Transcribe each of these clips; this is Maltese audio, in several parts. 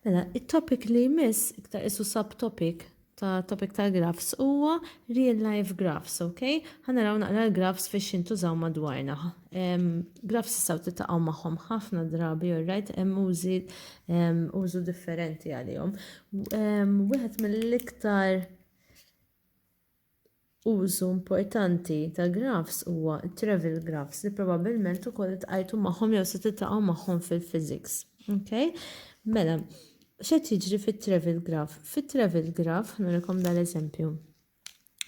Mela, it-topic li jmiss, iktar isu subtopic ta' topic ta' graphs huwa real life graphs, ok? Ħanaraw naqra l-graphs fiex jintużaw madwarna. Um, graphs jistaw titaqaw magħhom ħafna drabi, alright, hemm użi um, użu differenti għalihom. Um, Wieħed mill-iktar Użu importanti ta' grafs huwa t-travel grafs li probabbilment ukoll iltqajtu magħhom jew se tiltaqgħu magħhom fil-physics. Okay? Mela, x'qed jiġri fit-travel graph? Fit-travel graph, nurikom dal-eżempju.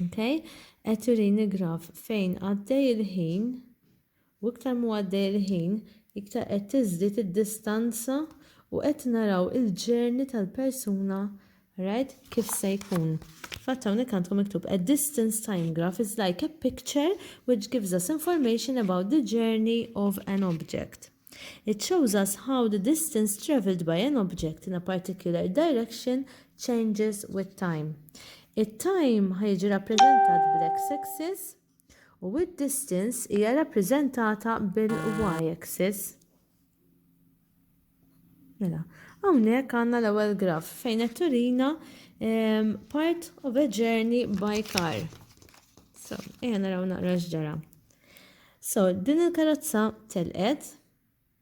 Okay? Qed jurini graf fejn għaddej il-ħin U iktar m'hu għaddej il-ħin, iktar qed tiżdied id-distanza u qed naraw il-journey tal-persuna right kif se jkun. Fatt hawnhekk għandkom miktub a distance time graph is like a picture which gives us information about the journey of an object. It shows us how the distance travelled by an object in a particular direction changes with time. It-time ħa jiġi rappreżentat bl-x axis u d-distance hija rappreżentata bil-y-axis. Mela, hawnhekk għandna l-ewwel graf fejn qed turina ehm, part of a journey by car. So, ejja naraw naqra x'ġara. So, din il-karozza telqet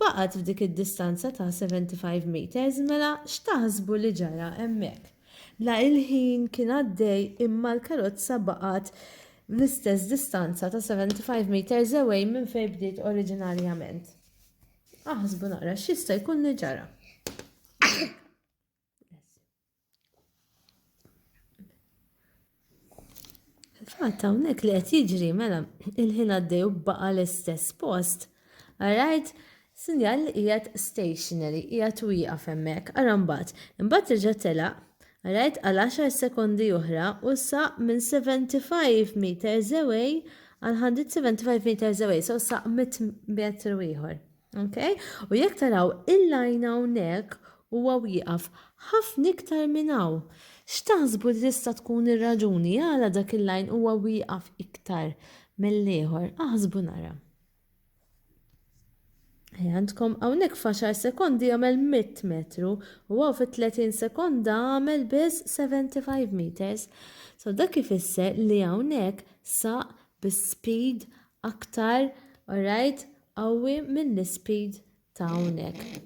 Baqgħet f'dik id-distanza ta' 75 meters mela x'taħsbu li ġara hemmhekk? La il-ħin kien għaddej imma l-karozza baqgħet l-istess distanza ta' 75 meters away minn fejn bdiet oriġinarjament. Aħsbu naqra x'jista' jkun li ġara. Fatt hawnhekk li qed jiġri mela il-ħin għaddej u baqa' l-istess post. Alright, sinjal li qiegħed stationary, qiegħed wieqaf hemmhekk, ara mbagħad. Imbagħad reġa' telaq, alright, għal 10 sekondi oħra u saq minn 75 meters away għal 175 meters away, so saq 100 metru ieħor. Okay? U jekk taraw il-lajn hawnhekk huwa wieqaf ħafna iktar minn hawn. X'taħsbu li tista' tkun ir-raġuni għala dak il-lajn huwa wieqaf iktar mill-ieħor? Aħsbu nara. Għandkom hawnhekk f'għaxar sekondi jagħmel 100 metru u għaw fit-30 sekonda għamel biss 75 meters. So dak ifisser li hawnhekk saq bi speed aktar, alright, qawwi mill-ispeed ta' hawnhekk.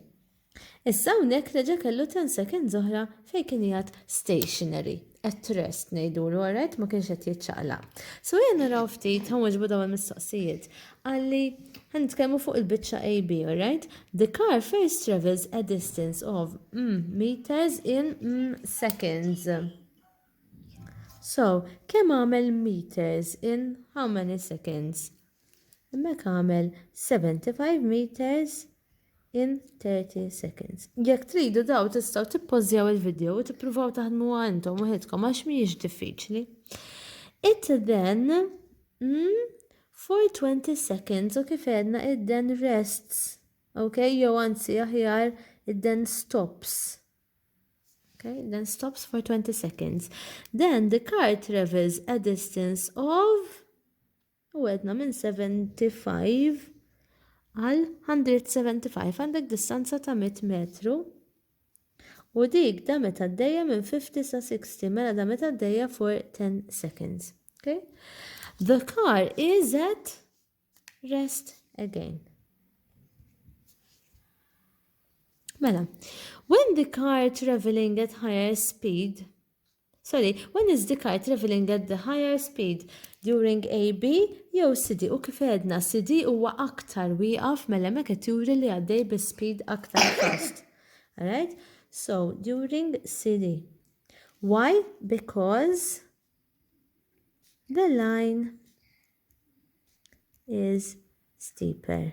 Issa hawnhekk reġa' kellu ten seconds oħra fejn kien qiegħed stationary, at rest ngħidulu, alright, ma kienx qed jiċċaqlaq. So ejja naraw ftit, ħa nwiġbu dawn il-mistoqsijiet. Qalli ħa nitkellmu fuq il-biċċa AB, alright? The car first travels a distance of mm, meters in mm, seconds. So, kemm għamel meters in how many seconds? Hemmhekk agħmel 75 meters in 30 seconds. Jekk tridu daw tistgħu tippożjaw il-video u tippruvaw taħdmuha intom waħedkom għax mhijiex diffiċli. It then mm, for 20 seconds u kif edna it then rests. Okay, jew anzi aħjar it then stops. Okay, then stops for 20 seconds. Then the car travels a distance of U għedna minn 75 għal 175 għandek distanza ta' 100 metru. U dik da meta d-dejja minn 50 sa 60, mela da meta d-dejja for 10 seconds. Okay? The car is at rest again. Mela, when the car traveling at higher speed Sorry, when is the car travelling at the higher speed, during AB jew CD u kif għedna CD huwa aktar wieqaf mela hemmhekk qed juri li għaddej bi speed aktar fast. Alright? So during CD. Why? Because the line is steeper.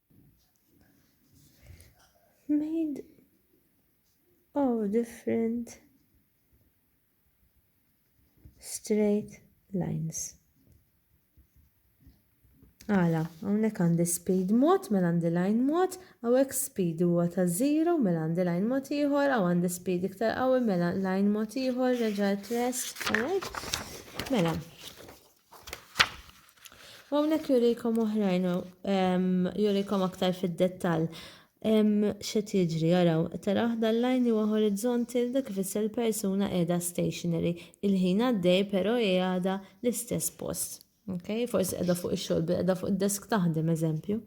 made of different straight lines. Għala, għonek għandi speed mod, mela għandi line mod, għawek speed huwa ta' zero, mela għandi line mod iħor, għaw għandi speed iktar għawi, mela line mod iħor, reġa' rest, alright? Mela, U hawnhekk jurikom oħrajn ehm, jurikom aktar fid-dettall. Ehm, X'qed jiġri jaraw, tara waħda l-lajn huwa horizonti dak ifisser il-persuna qiegħda stationary. Il-ħin għaddej però hi għadha l-istess post. Okay? Forsi qiegħda fuq ix-xogħol, qiegħda fuq id-desk taħdem eżempju.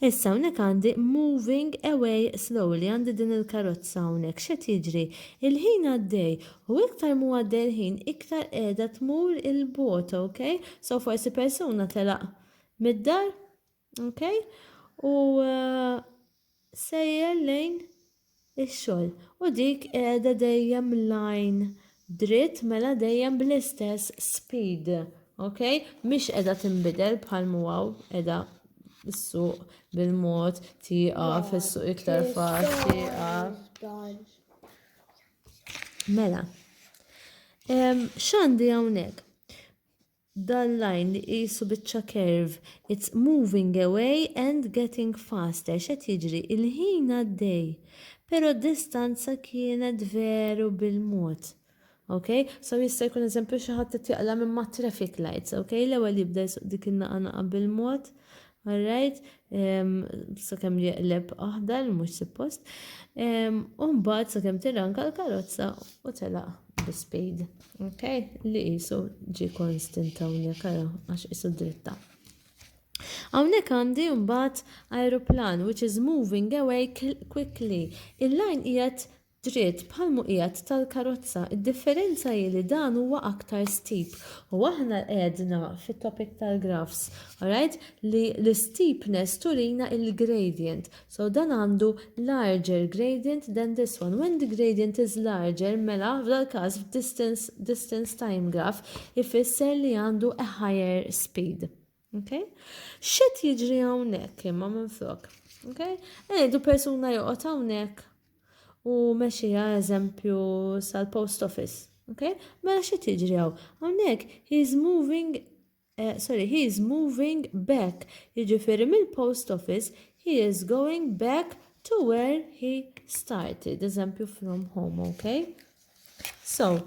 Issa hawnhekk għandi moving away slowly għandi din il-karozza hawnhekk x'qed jiġri. Il-ħin għaddej U iktar m'hu għaddej il-ħin iktar qiegħda tmur il bogħod ok? So forsi persuna telaq mid-dar ok? U uh, sejjer lejn ix-xogħol u dik qiegħda dejjem lajn dritt mela dejjem bl-istess speed ok? Mhix qiegħda tinbidel bħal muwaw qiegħda s-suq bil-mod tieqa fis-suq iktar faċli Mela, x'għandi hawnhekk? Dan line li qisu biċċa curve, it's moving away and getting faster. X'qed jiġri? Il-ħin għaddej, però d-distanza kienet veru bil-mod. Ok, so jista' jkun eżempju xi ħadd qed jaqla minn ma' traffic lights, ok, l-ewwel jibda jsuq dik in-naqa naqa bil-mod, All right, sakemm jeqleb aħdar mhux suppost. U mbagħad sakemm tirranka l-karozza u telaq l-speed. Ok, li jisu ġi konstant hawnhekk ara għax isu dritta. Hawnhekk għandi mbagħad aeroplan which is moving away quickly. Il-lajn qiegħed dritt bħal muqiegħed tal-karozza, id-differenza hi li dan huwa aktar steep u aħna għedna fit-topic tal-graphs, alright, li l-steepness turina il-gradient, so dan għandu larger gradient than this one, when the gradient is larger mela f'dal-każ f'distance distance time graph ifisser li għandu a higher speed. Okay? X'qed jiġri hawnhekk imma minflok? Okay? Ngħidu eh, persuna joqgħod hawnhekk u mexija eżempju sal-post office. Okay? Mela x'qed jiġri hawn? Hawnhekk he is moving uh, sorry, he is moving back. Jiġifieri mill-post office he is going back to where he started, eżempju from home, okay? So,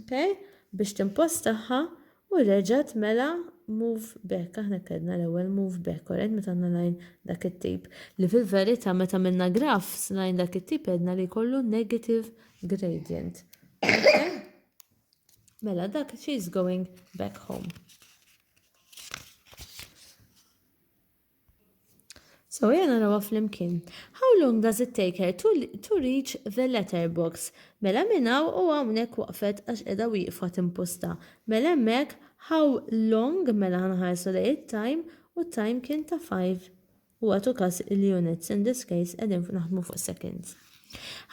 Okay? Biex timpostaħħa u reġa' tmela move back. Aħna kellna l-ewwel move back, alright, meta għandna line dak it-tip. Li fil-verità meta għamilna graf line dak it-tip għedna li jkollu negative gradient. Okay? Mela dak she's going back home. So jena narawa flimkien. How long does it take her to, to reach the letterbox? Mela minn hawn u hawnhekk waqfet għax qiegħda wieqfa timpusta. Mela hemmhekk how long mela ħanħarsu lejn it-time u t-time kien ta' five. U għatu każ il-units in this case qegħdin naħdmu fuq seconds.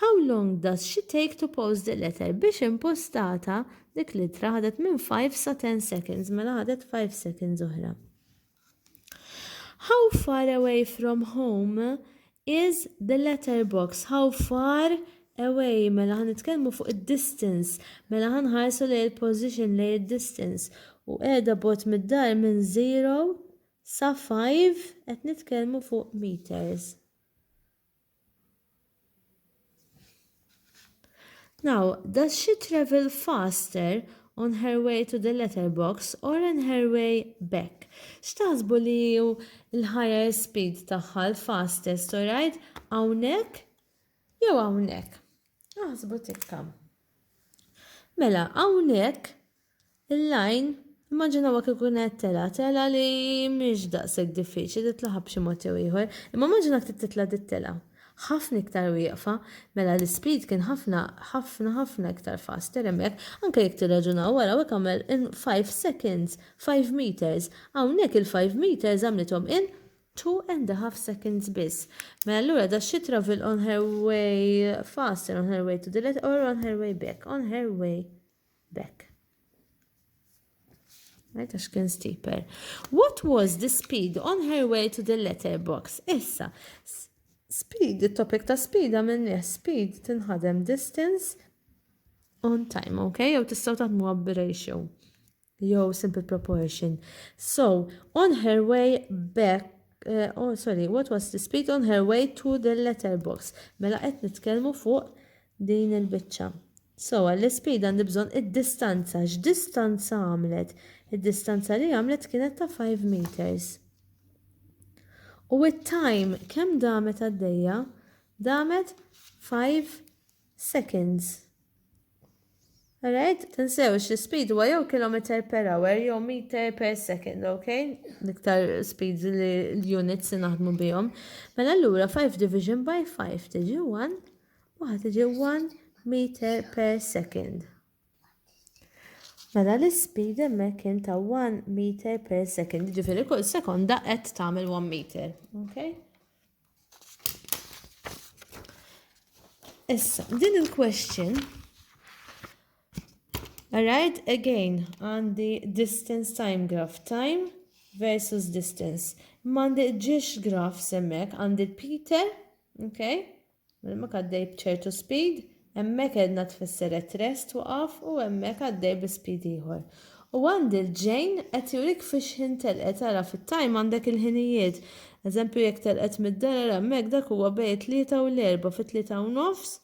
How long does she take to post the letter? Biex impostata dik l-ittra ħadet minn 5 sa 10 seconds, mela ħadet 5 seconds oħra. How far away from home is the letterbox? How far away mela ħan nitkellmu fuq id-distance, mela ħan ħarsu lej il-position lej id-distance u qiegħda bot mid-dar minn 0 sa 5 qed nitkellmu fuq meters. Now, does she travel faster on her way to the letterbox or on her way back? X'taħsbu li ju l-higher speed tagħha l-fastest u rajt hawnhekk jew hawnhekk? Aħsbu tikka. Mela, hawnhekk Il-lajn, immaġinawha kieku kienet telgħa, telgħa li mhix daqshekk diffiċli titlaħaq b'xi mod jew ieħor, imma immaġina ktit titla' dit-telgħa. Ħafna iktar wieqfa. Mela l-ispeed kien ħafna, ħafna, ħafna iktar faster hemmhekk. Anke jekk tirraġunaw wara hekk għamel in five seconds, five meters. Hawnhekk il-five meters għamlithom in two and a half seconds biss. Mela allura da she travel on her way faster, on her way to the left or on her way back, on her way. B'hekk. Right, għax kien steeper. What was the speed on her way to the letterbox? Issa, speed, il-topic ta' speed għamilni speed tinħadem distance on time, ok? Jew tistaw taħdmu għab ratio. Jew simple proportion. So, on her way back uh, oh sorry, what was the speed on her way to the letterbox? Mela qed nitkellmu fuq din il-biċċa. So għall-ispejda għandi bżonn id-distanza. X'distanza għamlet? Id-distanza li għamlet kienet ta' five meters. U it-time kemm damet għaddejja? Damet five seconds. Alright, tinsewx li speed huwa jew kilometer per hour jew meter per second, ok? Niktar speeds li l-units li naħdmu bihom. Mela allura 5 division by 5 tiġi 1 Waħda tiġi 1 meter per second. Mela l-ispeed hemmhekk kien ta' 1 meter per second, ġifieri kull sekonda qed tagħmel 1 meter. Okay? Issa, din il-question Alright, again, għandi distance time graph, time versus distance. Mandi ġiex graph semmek, għandi Peter, okay? Hemmhekk għaddej b'ċertu speed, hemmhekk għedna tfisser qed rest waqaf u hemmhekk għaddej bi speed ieħor. U għand il-ġejn qed jurik fiex ħin telqet ara fit-time għandek il-ħinijiet. Eżempju jekk telqet mid-dar ara hemmhekk dak huwa bej it-tlieta u l-erbgħa fit-tlieta u nofs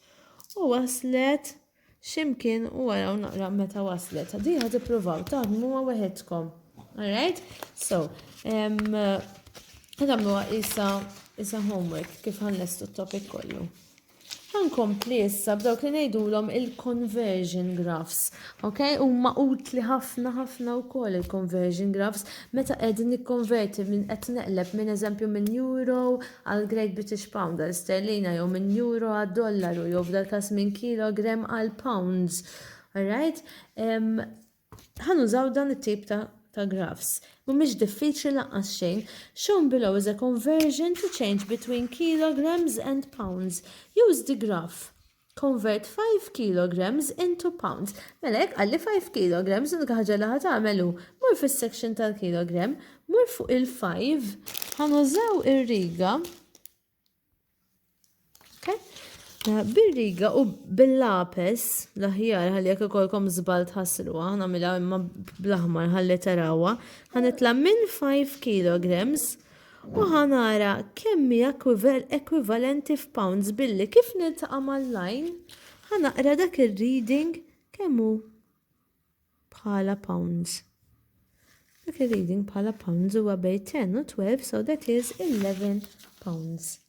u waslet x'imkien u araw naqra meta waslet. Diħa tippruvaw taħdmuha weħedkom. Alright? So, għadamluha isa isa homework kif ħannestu t-topic kollu. Għankompli issa b'dawk li ngħidulhom il-conversion graphs. Ok, huma utli ħafna ħafna wkoll il-conversion graphs meta qegħdin nikkonverti minn qed neqleb minn eżempju minn euro għall-Great British Pound, għal sterlina jew minn euro għad-dollaru jew f'dal-każ minn kilogram għal pounds. All right? Ħa nużaw dan it-tip ta' ta' graphs. Mhumiex diffiċli laqqas xejn. Shown below is a conversion to change between kilograms and pounds. Use the graph. Convert five kilograms into pounds. Mela jekk qalli five kilograms, l-unika ħaġa li ħa tagħmel hu, mur fis-section tal-kilogram, mur fuq il-five, ħa nużaw ir-riga, eh, bir-riga u bil-lapes l-aħjar ħalli jekk ikolkom żball tħassruha, nagħmilha imma bl-aħmar ħalli tarawha, ħa nitla' minn 5 kilograms U ħa nara kemm hi ekwivalenti f'pounds billi kif niltaqa' mal-line ħa naqra dak ir-reading kemm hu bħala pounds. Dak ir-reading bħala pounds huwa bejn 10 u 12 so that is 11 pounds.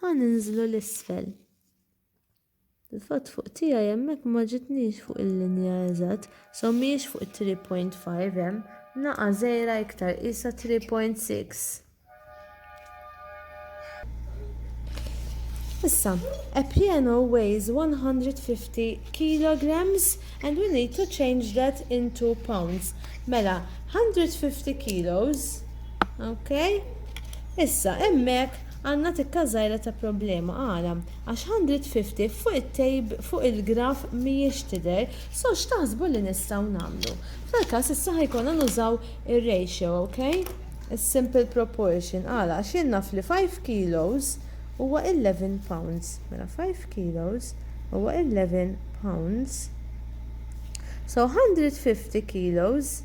Ħa ninżlu 'l isfel. Fil-fatt fuq tiegħi hemmhekk ma ġitnix fuq il-linja eżatt, so mhijiex fuq it-3.5 hemm, naqa' żgħira iktar qisha 3.6. Issa, a piano weighs 150 kilograms and we need to change that into pounds. Mela, 150 kilos, ok? Issa, emmek Għandna tikka żgħira ta' problema. Għala? Għax Hundred Fifty fuq it-tejb, fuq il-graf mhijiex tidher, so x'taħsbu li nistgħu nagħmlu? F'dal-każ issa ħa jkollna nużaw ir-ratio, ok? Is-simple proportion. Għala? Għax jien naf li five kilos huwa eleven pounds. Mela five kilos huwa eleven pounds. So Hundred Fifty kilos.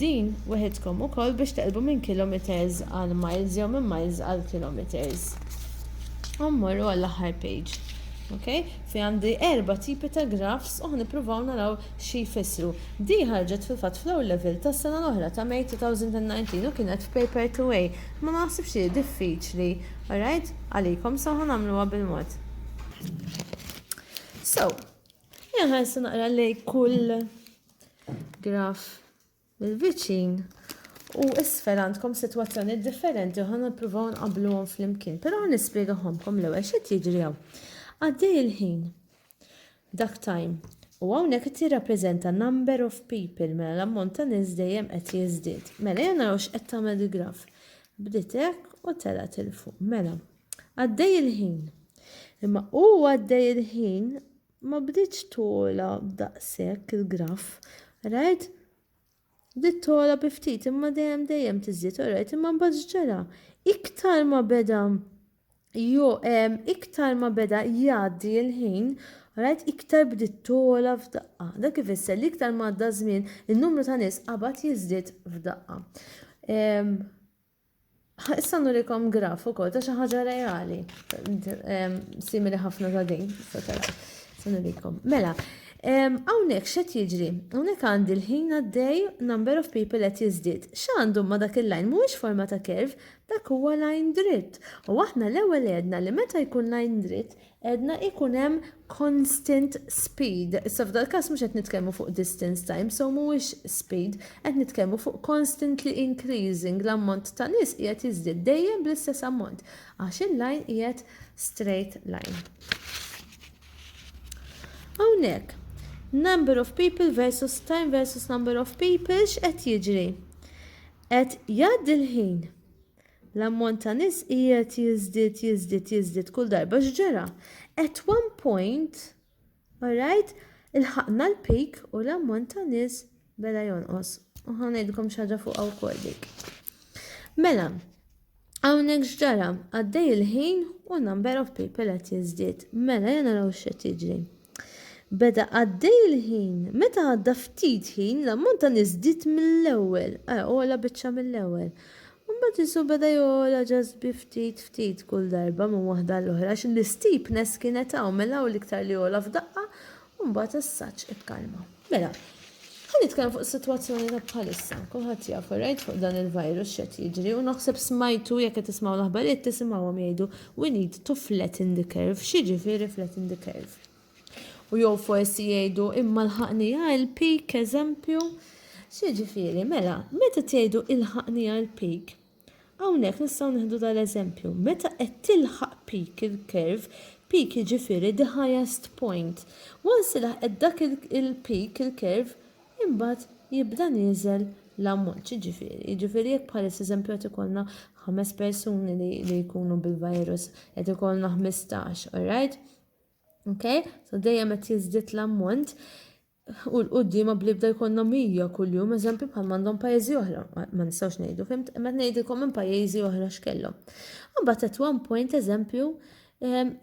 Din weħidkom ukoll biex teqlbu minn kilometers għal miles jew minn miles għal kilometers. U mmorru għall-aħħar page. Okay? Fi għandi erba tipi ta' graphs u ħnipruvaw naraw xi jfissru. Di ħarġet fil-fatt fl-ewwel level tas-sena l-oħra ta' May 2019 u kienet f'paper 2A. Ma naħsibx li hi diffiċli, alright, għalikom so ħanagħmluha bil-mod. So, inħarsu naqra lejn kull Graf il-viċin u isfel għandkom situazzjoni differenti u ħan nipruvaw nqabluhom fl-imkien, pero ħan nispiegaħomkom l-ewwel xed jiġri hawn. Għaddej il-ħin, dak time, u hawnhekk qed jirrappreżenta number of people, mela l-ammont ta' nies dejjem qed jiżdied. Mela jien naraw x'qed tagħmel il-graf. Bdiet hekk u telgħet il fuq. Mela, għaddej il-ħin. Imma u għaddej il-ħin Ma bdietx togħla daqshekk il-graff, rajt? Bdiet togħla bi ftit imma dejjem dejjem tiżdied, orajt, imma mbagħad x'ġara? Iktar ma beda jo iktar ma beda jgħaddi l-ħin, orajt, iktar bdiet togħla f'daqqa. Dak ifisser li iktar ma għadda żmien, in-numru ta' nies qabad jiżdied f'daqqa. Ħa issa nurikom graf ukoll ta' xi ħaġa reali, simili ħafna ta' din, se nurikom. Mela, hawnhekk x'qed jiġri? Hawnhekk għandi l-ħin għaddej number of people qed jiżdied. X'għandu ma' dak il-lajn mhuwiex forma ta' kerv, dak huwa lajn dritt. U aħna l-ewwel għedna li meta jkun lajn dritt, Għedna ikun hemm constant speed. Issa f'dal każ mhux qed nitkellmu fuq distance time, so mhuwiex speed, qed nitkellmu fuq constantly increasing, l-ammont ta' nies qiegħed jiżdied dejjem bl-istess ammont għax il-line qiegħed straight line. Hawnhekk, number of people versus time versus number of people x'qed jiġri? Qed jgħaddi l-ħin. L-ammont ta' nies qiegħed jiżdied, jiżdied, jiżdied kull darba x'ġara. At one point, alright, ilħaqna l-peak u l-ammont ta' nies beda jonqos. U ħa ngħidilkom xi ħaġa fuqha wkoll dik. Mela, hawnhekk x'ġara, għaddej il-ħin u number of people qed jiżdied. Mela, jena naraw x'qed jiġri. Beda għaddej il-ħin. Meta għadda ftit ħin, l-ammont ta' nies żdied mill-ewwel, ara ogħla biċċa mill-ewwel. Imbagħad Ġesù beda jogħla just bi ftit ftit kull darba minn waħda għall-oħra għax l-isteepness kienet hawn, mela hawn l-iktar li għola f'daqqa u mbagħad as-saġġ ikkalma. Mela, ħa nitkellem fuq is-sitwazzjoni ta' bħalissa. Kulħadd jafu rajt fuq dan il-virus x'qed jiġri u naħseb smajtu jekk qed tismgħu l-aħbarijiet tisimgħuhom jgħidu we need to flatten the curve. X'jiġifieri flatten the curve? U jew forsi jgħidu imma l-ħaqnija il-peak eżempju. X'jiġifieri? Mela, meta tgħidu il-ħaqnija il-peak, Hawnhekk nistgħu nieħdu dal-eżempju, meta qed tilħaq peak il-curve, peak jiġifieri the highest point, once li laħqet dak il-peak il-curve, imbagħad jibda nieżel l-ammont, x'jiġifieri? Jiġifieri jekk bħalissa eżempju qed ikollna ħames persuni li li jkunu bil-virus, qed ikollna 15, alright? Okay? So dejjem qed jiżdied l-ammont. u 'l quddiem għad bl-ibda jkollna 100 kuljum eżempju bħalma għandhom pajjiżi oħra, ma nistgħux ngħidu, fhimt? Imma qed ngħidilkom minn pajjiżi oħra x'kellhom. Imbagħad at one point eżempju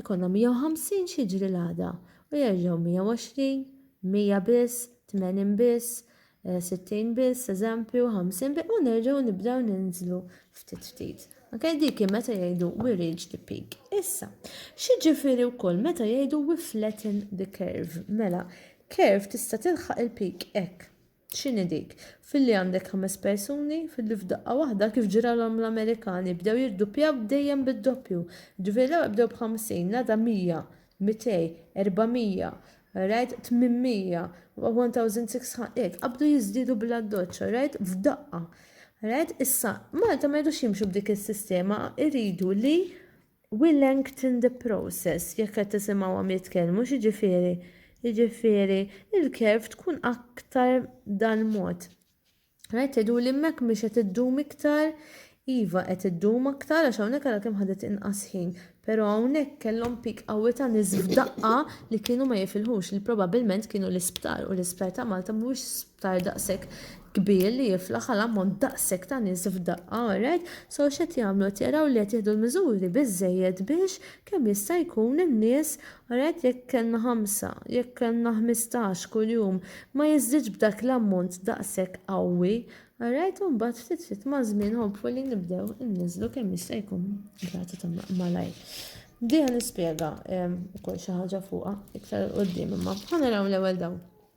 jkollna 150 x'jiġri l-għada u jerġgħu 120, 100 biss, 80 biss, 60 eh, biss, eżempju, 50 biss, u nerġgħu nibdew ninżlu ftit ftit. Ok, dik hi meta jgħidu we reach the peak. Issa, x'jiġifieri wkoll meta jgħidu we flatten the curve? Mela, curve tista' tilħaq il-peak hekk. X'inhi dik? Filli għandek ħames persuni, filli f'daqqa waħda kif ġralhom l-Amerikani bdew jirduppjaw dejjem bid-doppju. Ġifieri l-ewwel bdew b'50, l-għada 100, 200, 400, rajt 800, 1600, qabdu jiżdiedu bl-addoċċa, rajt f'daqqa. Rajt issa Malta ma jridux jimxu b'dik is-sistema, iridu li we lengthen the process jekk qed tisimgħuhom jitkellmu x'jiġifieri. Jiġifieri il-kerv tkun aktar dal-mod. Rajt tgħidu li hemmhekk mhix qed iddum iktar, iva qed iddum aktar għax hawnhekk għadha kemm ħadet inqas ħin, però hawnhekk kellhom pik qawwi ta' nies f'daqqa li kienu ma jifilħux li probabilment kienu l-isptar u l-isptar ta' Malta mhuwiex sptar daqshekk kbir li jiflaħ għal ammont daqshekk ta' nies f'daqqa, alright? So x'qed jagħmlu? Qed jaraw li qed jieħdu l-miżuri biżżejjed biex Kemm jista' jkun hemm nies, rajt jekk kellna ħamsa, jekk kellna ħmistax kuljum, ma jiżdidx b'dak l-ammont daqshekk qawwi, rajt u mbagħad ftit ftit maż-żmien hopefully nibdew inniżżlu kemm jista' jkun rata ta' malajr. Diha nispjega ukoll xi ħaġa fuqha iktar il-quddiem imma ħa naraw l-ewwel dawn.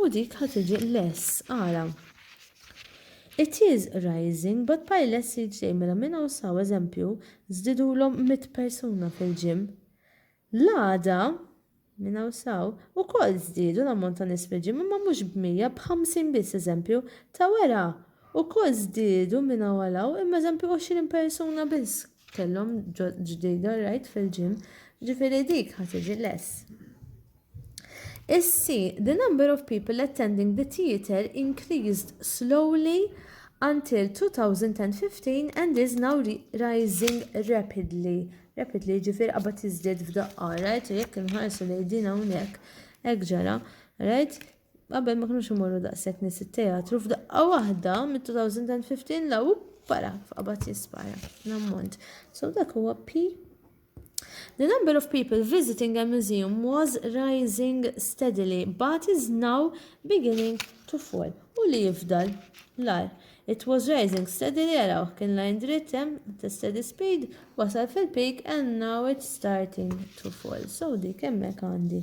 U dik ħa tiġi less, ara. It is rising, but by less each day, mela minn hawn saw, eżempju, żdidulhom mitt persuna fil-gym. L-għada, minn hawn saw, ukoll żdiedu l-ammont ta' nies fil-gym imma mhux b'mija, b'ħamsin biss, eżempju, ta' wera, ukoll żdiedu minn hawn għal hawn imma eżempju għoxrin persuna biss. kellhom ġdida rajt fil-gym, ġifieri dik ħa tiġi less. Is-C, the number of people attending the theatre increased slowly until 2015 and is now rising rapidly. Rapidly ġifir qabad jiżdied f'daqqa, right? Jekk inħarsu lejn din hawnhekk, hekk ġara, right? Qabel ma kinux imorru daqshekk nies it-teatru f'daqqa waħda mid-2015 law para f'qabad jispara l-ammont. So dak huwa P. The number of people visiting a museum was rising steadily but is now beginning to fall. U li jifdal l-ar. It was rising steadily, għaraw, kien lajn dritt hemm, the steady speed, wasal fil-peak and now it's starting to fall. So dik hemmhekk għandi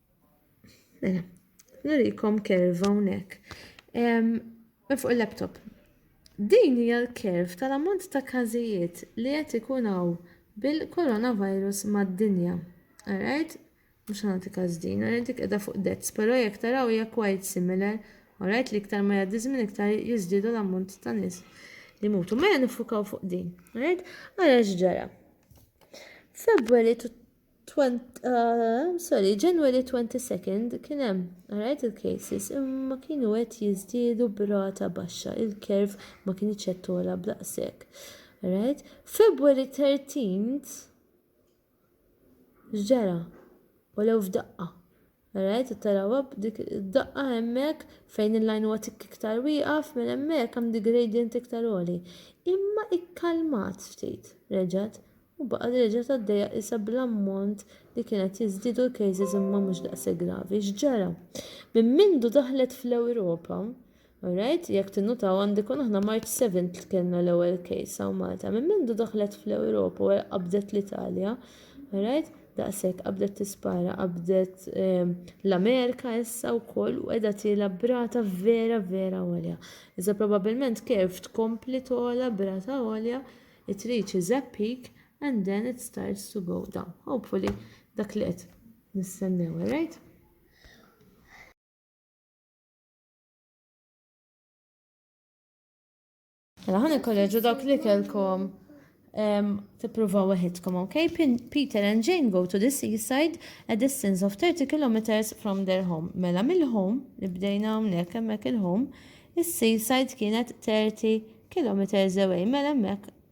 Mela, nurikom kerva hawnhekk. Fuq il-laptop. Din hija l-kerv tal-ammont ta' każijiet li qed ikun hawn bil-coronavirus mad-dinja. Alright? Mhux ħanati każ din, alright dik qiegħda fuq dezz, però jekk taraw hija quite similar. Alright li iktar ma jgħaddi żmien iktar jiżdiedu l-ammont ta' nies li mutu. Mela nifukaw fuq din. Alright? Għara x'ġara. February Uh, sorry, January 22nd kien hemm rajt il-cases imma kienu qed jiżdiedu b'rata baxxa, il-kerv ma kienx qed tola b'daqshekk. Right? February 13th ġara u lew f'daqqa. Alright, qed tarawha b'dik id-daqqa hemmhekk fejn il-line huwa tikk iktar wieqaf, mela hemmhekk hemm dik gradient iktar għoli. Imma ikkalmat ftit, reġgħet, u baqgħet reġgħet għaddejja qisha bl-ammont li kien qed jiżdiedu l-cases imma mhux daqshekk gravi. X'ġara? Minn mindu daħlet fl-Ewropa, All right, jekk tinnutaw għandi kun aħna March 7 li kellna l-ewwel case hawn Malta. Minn mindu daħlet fl-Ewropa u qabdet l-Italja. All right, daqshekk qabdet tispara, qabdet ehm, l-Amerika issa wkoll u qiegħda tiela brata vera vera għolja. Iżda probabbilment kif tkompli tola brata għolja, it reaches a peak and then it starts to go down. Hopefully dak li qed nistennew, all right? Mela ħan il-kolleġu dawk li kelkom tippruvaw weħidkom, ok? Peter and Jane go to the seaside a distance of 30 kilometers from their home. Mela mill-home, li bdejna hawnhekk hemmhekk il-home, is-seaside kienet 30 kilometers away, mela hemmhekk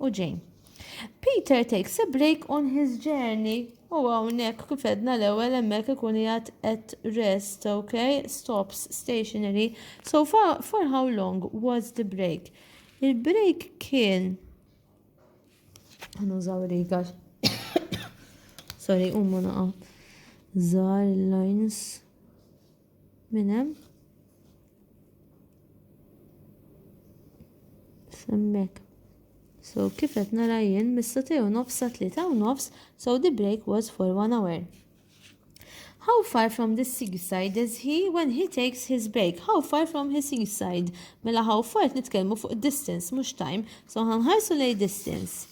u Jane. Peter takes a break on his journey u hawnhekk kif edna l-ewwel hemmhekk ikun jgħat at rest, ok? Stops stationary. So for, for how long was the break? Il-break kien Nużaw riga. Sorry, umma naqa. Zar lines. Minn hemm. Semmek. So kif qed nara jien mis-satej u nofs sa tlieta u nofs, so the break was for one hour. How far from the seaside is he when he takes his break? How far from his seaside? Mela how far nitkellmu fuq distance, mhux time. So ħanħarsu lej distance.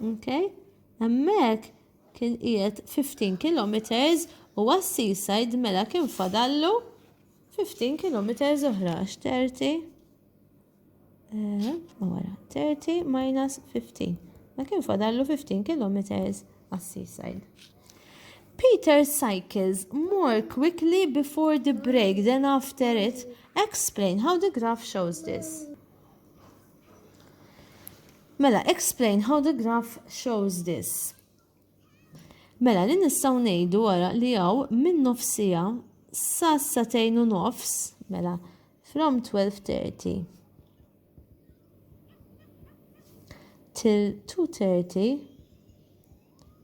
Okay? Hemmhekk kien qiegħed 15 kilometers u għas-seaside mela kien fadallu 15 kilometers oħra għax 30 eh, wara 30 minus 15. Ma kien fadallu 15 kilometers għas-seaside. Peter cycles more quickly before the break than after it. Explain how the graph shows this. Mela, explain how the graph shows this. Mela, li nistaw nejdu għara li għaw minn nofsija sa satejn u nofs, mela, from 12.30 till 2.30,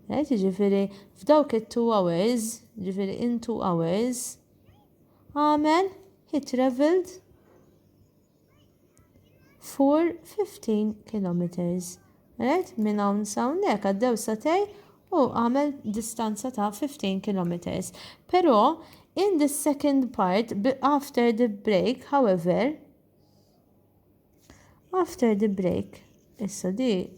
right, ġifiri, f'dawk it-2 hours, ġifiri in 2 hours, għamel, he traveled for 15 kilometers. Right? Minn hawn sa hawnhekk għaddew satej u għamel distanza ta' 15 kilometers. Però in the second part after the break, however, after the break, Issa di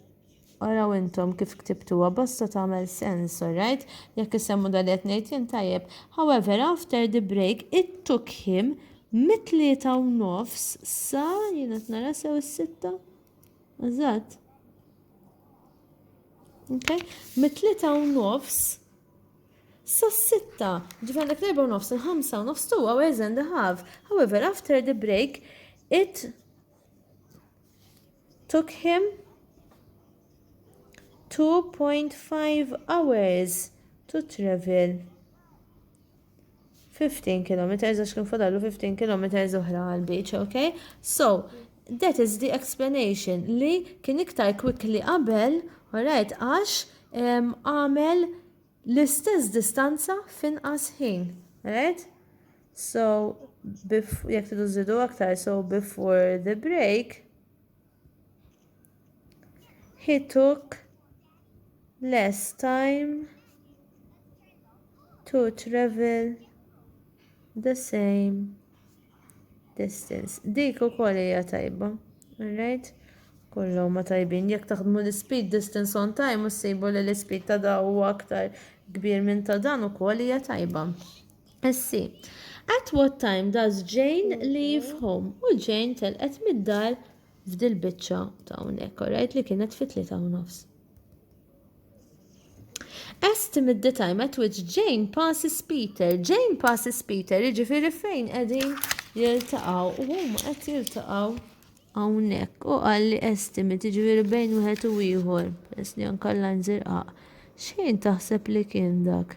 araw intom kif ktibtuha basta tagħmel sens, alright? Jekk issemmu dak li qed ngħid jien tajjeb. However, after the break, it took him mit-tlieta u nofs sa jien qed nara sew is-sitta? Eżatt. Okay? Mit-tlieta u nofs sas-sitta, ġifan dak l-erba' nofs, il-ħamsa u nofs two hours and a half. However, after the break, it took him 2.5 hours to travel 15 km, għax kien fadallu 15 km oħra għal beach, ok? So, that is the explanation li kien iktar quickly qabel, alright, għax għamel L-istess distanza f'inqas ħin, right? So, jekk tidu żidu aktar, so before the break, he took less time to travel the same distance. Dik ukoll hija tajba. Alright? Kollu ma tajbin. Jekk taħdmu l-speed distance on time u ssibu li l-speed ta' da huwa aktar kbir minn ta' dan ukoll hija tajba. Essi, at what time does Jane leave home? U Jane telqet mid-dar f'dil biċċa ta' hawnhekk, alright, li kienet fit-tlieta u nofs. As Tim at the time at which Jane passes Peter. Jane passes Peter, jiġifieri fejn qegħdin jiltaqgħu u huma qed jiltaqgħu hawnhekk. U qal li estimate, jiġifieri bejn wieħed u ieħor, peress li anke l-lajn żirqaq. X'ħin taħseb li kien dak?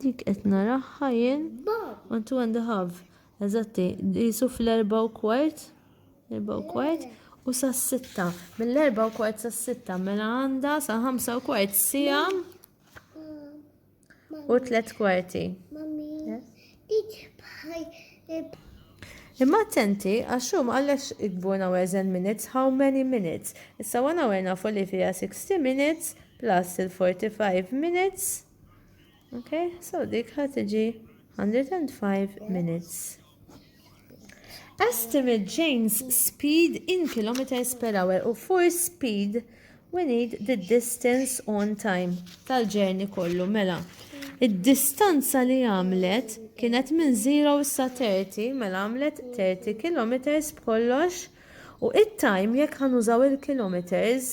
Dik qed naraha jien. One, two and a half. Eżatti, jisu fl-erba u kwart. Erba u kwart. U sa' sitta. Mill-erba u kwart sa' sitta. Mela għanda sa' ħamsa u kwart. Sija. U tlet kwarti. Imma attenti, għax hu ma qallekx ikbu an hour and minutes, how many minutes. Issa one hour nafu li fiha 60 minutes plus il-45 minutes. Okay, so dik ħa tiġi 105 minutes. Estimate James speed in kilometers per hour u force speed we need the distance on time tal-ġerni kollu mela. Id-distanza li għamlet kienet minn 0 sa 30 mela għamlet 30 kilometers b'kollox u it-time jekk ħanużaw il-kilometers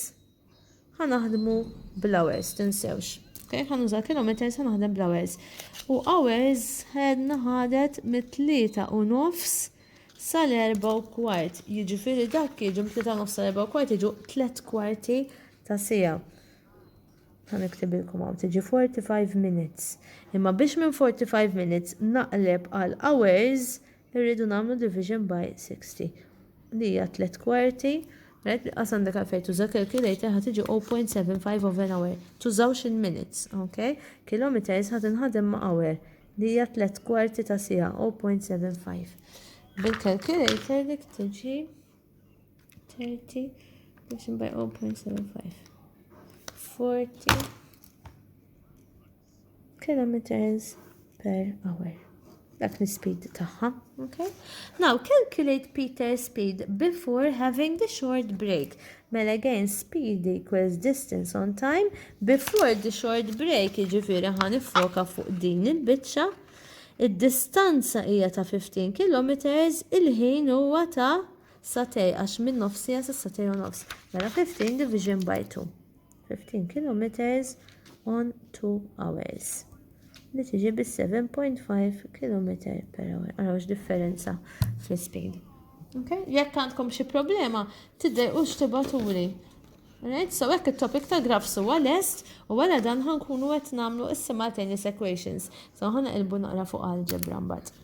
Ħa naħdmu bl-hours, tinsewx. Okay, ħa nuża kilometers, ħa naħdem bl-hours. U hours ħedna ħadet mit-tlieta u nofs sal-erba u kwart. Jiġifieri dak jiġu mit-tlieta u nofs sal-erba u kwart jiġu tliet kwarti ta' sija. Ħa niktibilkom hawn tiġi 45 minutes. Imma biex minn 45 minutes naqleb għal hours Irridu nagħmlu division by 60 li hija tliet kwarti. Right, qas għandek għalfej tuża calculator ħad iġi 0.75 of an hour. Tużawx in minutes, ok? Kilometers ħad inħadem ma' hour li hija tliet kwarti ta' sija 0.75. Bil-calculator dik tiġi 30 division by 0.75. 40 kilometers per hour. Dak l-speed tagħha, okay? Now calculate Peter's speed before having the short break. Mela again speed equals distance on time before the short break, jiġifieri ħa nifoka fuq din il-biċċa. Id-distanza hija ta' 15 km, il-ħin huwa ta' satej għax minn nofsija sa satej u nofs. Mela 15 division by 2. 15 kilometers on 2 hours li tiġi bi 7.5 km per hour. Għaraw differenza fl-speed. Okay? Jekk għandkom xi problema, tidder u xtibaturi. Right? So hekk it-topic ta' grafs huwa lest u wara dan ħankunu qed nagħmlu is-simultaneous equations. So ħana ilbu naqra fuq algebra mbagħad.